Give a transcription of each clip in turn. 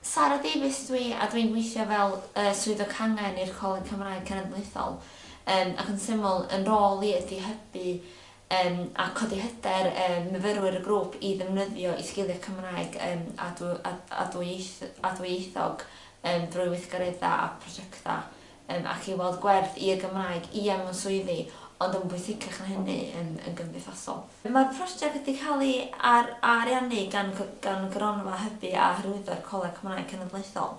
Sara Davies ydw i a dwi'n gweithio fel y Swyddog Cangen i'r Coleg Cymraeg Cenedlaethol ac yn syml yn rôl i ydy hybu a codi hyder myfyrwyr y grŵp i ddefnyddio i sgiliau Cymraeg a dwyieithog drwy weithgareddau a prosiectau Yym, ac i weld gwerth i'r Gymraeg, ie, mewn swyddi, ond yn bwysicach na hynny, yn yn gymdeithasol. Mae'r prosiect wedi cael ei ar ariannu gan gan Gronfa Hybu a Hyrwyddo'r Coleg Cymraeg Cenedlaethol,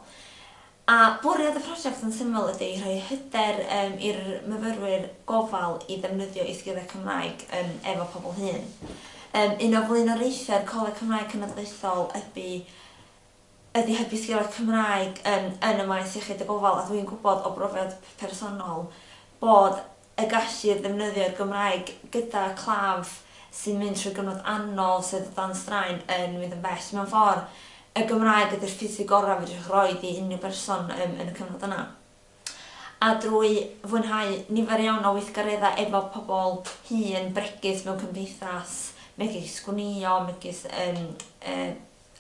a bwriad y prosiect yn syml ydy rhoi hyder yym i'r myfyrwyr gofal i ddefnyddio eu sgiliau Cymraeg yn efo pobl hŷn. Yym, un o flaenoriaethau'r Coleg Cymraeg Cenedlaethol ydy ydy hybu sgiliau Cymraeg yn yn y maes iechyd y gofal a dwi'n gwybod o brofiad personol bod y gallu i ddefnyddio'r Gymraeg gyda claf sy'n mynd trwy gyfnod anodd sydd o dan straen yn mynd yn bell. Mewn ffordd, y Gymraeg ydy'r ffisig gorau fedrwch roi i unrhyw berson yn yn y cyfnod yna. A drwy fwynhau nifer iawn o weithgareddau efo pobl hŷn, bregus mewn cymdeithas, megis gwnïo, megis yym yy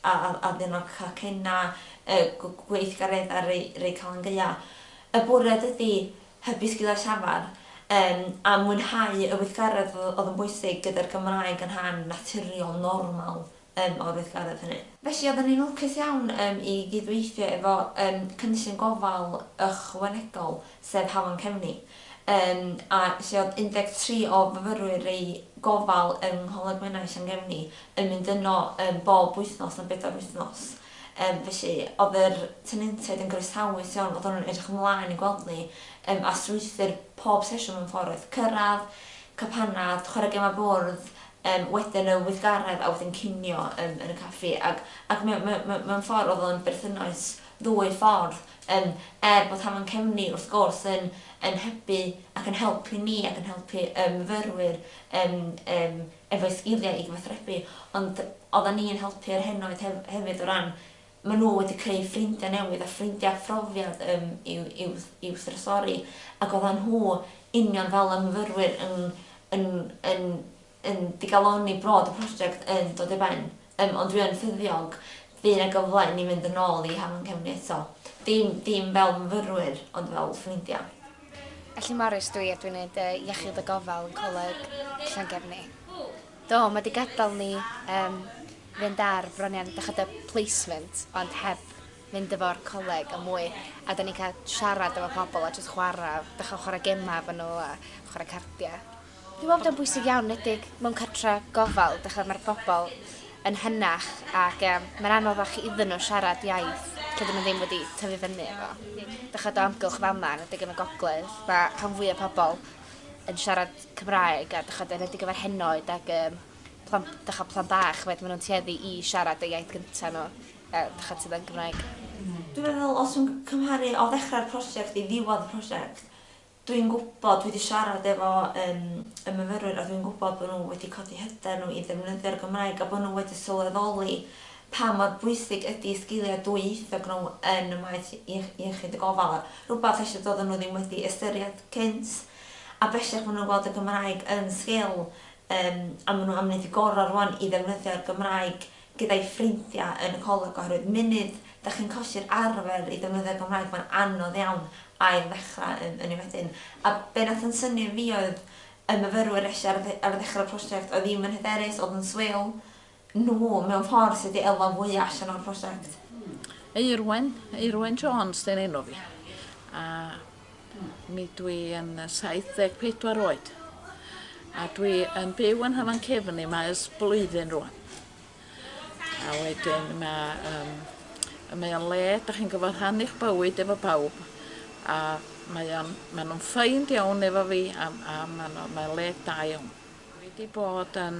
a ddim yn cacena y gweithgareddau rei Calan Gaeaf. Y bwriad ydi hybu sgiliau llafar a mwynhau y weithgaredd oedd yn bwysig gyda'r Gymraeg yn rhan naturiol, normal o'r weithgaredd hynny. Felly oedden ni'n lwcus iawn i gydweithio efo cynllun gofal ychwanegol sef Hafan Cefni. Yn a lle oedd 13 o fyfyrwyr eu gofal yng Ngholeg Menai Llangefni yn mynd yno yym bob wythnos am bedair wythnos. Yym felly oedd yr tenantiaid yn groesawus iawn, oedden nhw'n edrych ymlaen i gweld ni yym a strwythur pob sesiwn mewn ffordd oedd cyrraedd, cael panad, chwarae gemau bwrdd, yym wedyn y weithgaredd a wedyn cinio yym yn y caffi ac ac mewn mewn mewn mewn ffordd oedd o'n berthynas ddwy ffordd. Yym, er bod hafan cefni, wrth gwrs, yn yn hybu ac yn helpu ni ac yn helpu y myfyrwyr yym yym efo'u sgiliau i gyfathrebu, ond oeddan ni'n helpu yr henoed hef- hefyd o ran ma' nhw wedi creu ffrindiau newydd a ffrindiau a phrofiad yym i'w i'w i'w thrysori, ac oeddan nhw, union fel y myfyrwyr, yn yn yn yn digalonni bod y prosiect yn dod i ben, yym, ond dwi yn ffyddiog fydd 'na gyfle i ni fynd yn ôl i Hafan Cefn eto. Dim, dim fel myfyrwyr, ond fel ffrindia. Felly Morris dw i a dwi'n neud yy iechyd a gofal yn Coleg Llangefni. Do, ma' 'di gadal ni yym fynd ar bron iawn dych ch'od y placement ond heb fynd efo'r coleg a mwy a 'da ni'n ca'l siarad efo pobol a jyst chwara' dych ch'o' chwara' gema efo nw a chwara' cardia. Dwi'n meddwl bod o'n bwysig iawn, enwedig mewn cartre gofal, dych ch'mod, ma'r bobl yn hynach ac yym mae'n anodd fach iddyn nhw siarad iaith tydyn nhw ddim wedi tyfu fyny efo. Dych ch'mod o amgylch fel 'ma, enwedig yn y gogledd, ma' rhan fwya pobl yn siarad Cymraeg a dych ch'mod enwedig efo'r henoed ac yym plant dych ch'mod plant bach ch'mod ma' nhw'n tueddu i siarad y iaith gynta' nhw yy dych ch'mod sydd yn Gymraeg. Dwi'n meddwl os dwi'n cymharu o ddechrau'r prosiect i ddiwedd y prosiect, Dwi'n gwybod, dwi 'di siarad efo yym y myfyrwyr a dwi'n gwybod bod nhw wedi codi hyder nhw i ddefnyddio'r Gymraeg a bod nhw wedi sylweddoli pa mor bwysig ydi y sgiliau dwyieithog nhw yn y maes iech- iechyd y gofal a rhywbeth ella doedden nhw ddim wedi ystyried cynt a bellach maen nhw'n gweld y Gymraeg yn sgil yym a maen nhw am wneud y gorau rŵan i ddefnyddio'r Gymraeg gyda'i ffrindiau yn y coleg oherwydd munud dach chi'n colli'r arfer i ddefnyddio'r Gymraeg mae'n anodd iawn ail ddechrau yn yn ni wedyn a be nath yn synnu fi oedd y myfyrwyr neshi ar ar ddechrau'r prosiect oedd ddim yn hyderus oedd yn swil nhw mewn ffordd sydd wedi elwa fwya allan o'r prosiect. Eirwen, Eirwen Jones 'di'r enw fi a Mi dwi yn 74 oed a dwi yn byw yn Hafan Cefni mae ers blwyddyn rŵan. A wedyn ma' yym y mae o'n le 'dach chi'n gyfo rhannu'ch bywyd efo pawb a mae o'n ma' nw'n ffeind iawn efo fi a m- a ma' n'w mae o'n le da iawn. Dwi 'di bod yn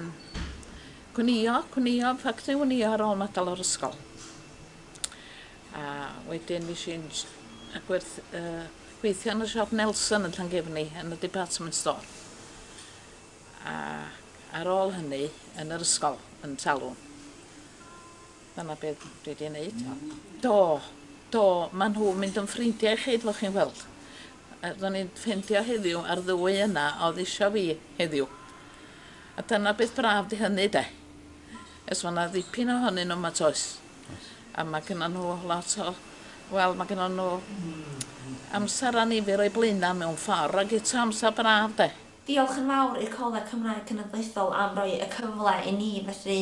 gwnïo gwnïo ffactri wnïo ar ôl ma' dal o'r ysgol. A wedyn nesh i yn sh- yy gwerth- yy gweithio yn y siop Nelson yn Llangefni yn y department store. Ac ar ôl hynny yn yr ysgol yn Talwm. Dyna be' dwi 'di neud. Do do ma' nhw mynd yn ffrindia i chi fel chi'n weld. Yy ro'n i'n ffeindio heddiw ma'r ddwy yna o'dd isio fi heddiw. A dyna beth braf 'di hynny 'de. E's ma' 'na ddipyn ohonyn n'w 'ma 't oes? Oes. A ma' gynnon nhw lot o wel ma' gynnon nhw amser annifyr o'u blaena' mewn ffor ag eto amser braf 'de? Diolch yn fawr i'r Coleg Cymraeg Cenedlaethol am roi y cyfle i ni fedru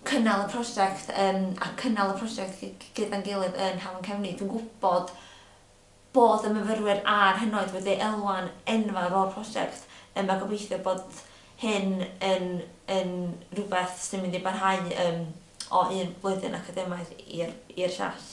cynnal y prosiect yym a cynnal y prosiect gy- gyda'n gilydd yn Hafan Cefni. Dwi'n gwybod bod y myfyrwyr a'r hynod wedi elwa'n enfawr o'r prosiect yym a gobeithio bod hyn yn yn rhywbeth sy'n mynd i barhau yym o un blwyddyn academaidd i'r i'r llall.